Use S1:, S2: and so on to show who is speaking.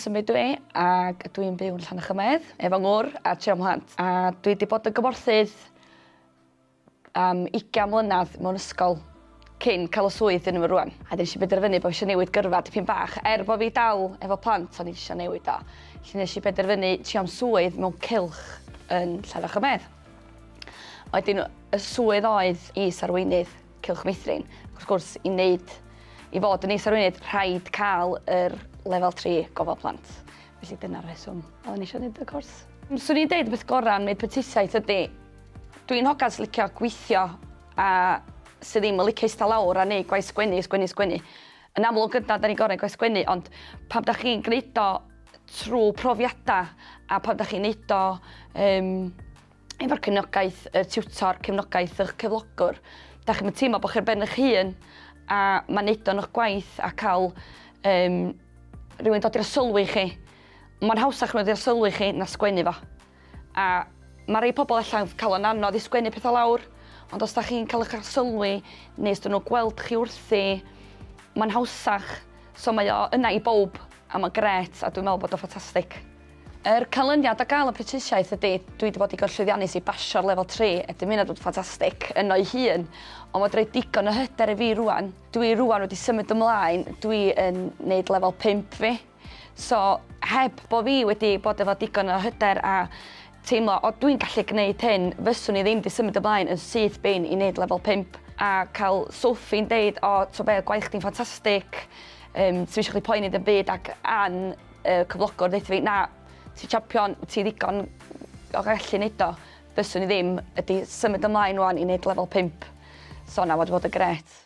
S1: Sum ydw i ag ydw i'n byw yn Llanachymedd efo ngwr a tri o mhlant a dwi 'di bod yn gymorthydd am ugian mlynadd mewn ysgol cyn ca'l y swydd dwi yn efo rŵan a 'dyn nesh i benderfynu bo' fi isio newid gyrfa dipyn bach er bo' fi dal efo plant o'n i isio newid o felly nesh i benderfynu trio am swydd mewn cylch yn Llanfachrymedd a 'dyn y swydd oedd is-arweinydd Cylch Meithrin. Wrth gwrs, i wneud, i fod yn is-arweinydd, rhaid cael yr lefel 3 gofal plant. Felly dyna'r rheswm oeddwn i eisiau gwneud y cwrs. Swn i'n deud y peth gorau am wneud prentisiaeth ydy, dwi'n hogan sy'n licio gweithio a sydd ddim yn licio eistedd lawr a neud gwaith sgwennu, sgwennu, sgwennu. Yn amlwg yna, da ni'n gorau gwaith sgwennu, ond pam da chi'n gwneud o trwy profiadau a pam da chi'n neud o um, efo'r cefnogaeth y tiwtor, cefnogaeth ych cyflogwr. Da chi'n teimlo bod chi'r ben eich hun a mae'n neud o'n eich gwaith a cael um, rhywun dod i'r sylwi chi. Mae'n hawsach nhw i'r sylwi chi na sgwennu fo. A mae rhai pobl allan cael o'n anodd i sgwennu pethau lawr, ond os da chi'n cael eich sylwi neu os dyn nhw gweld chi wrthi, mae'n hawsach. So mae o yna i bob a mae'n gret a dwi'n meddwl bod o'n ffantastig. Yr canlyniad o gael y prentisiaeth ydy, dwi wedi bod i gorllwyddiannus i basio'r lefel 3, y dymunad yn ffantastig yno'i hun, ond mae wedi rhoi digon o hyder i fi rwan. Dwi rwan wedi symud ymlaen, dwi yn neud lefel 5 fi, so heb bod fi wedi bod efo digon o hyder a teimlo o dwi'n gallu gneud hyn, fyswn i ddim wedi symud ymlaen yn syth bin i neud lefel 5 a cael Sophie'n deud o t'o be gwaith chdi'n ffantastig, yym sdim isio chdi poeni ddim byd ac Ann Y cyflogwr ddeitha fi, na, ti champion, ti ddigon o gallu neud o. Fyswn i ddim, ydy symud ymlaen wan i neud lefel 5. So na, wedi bod yn gret.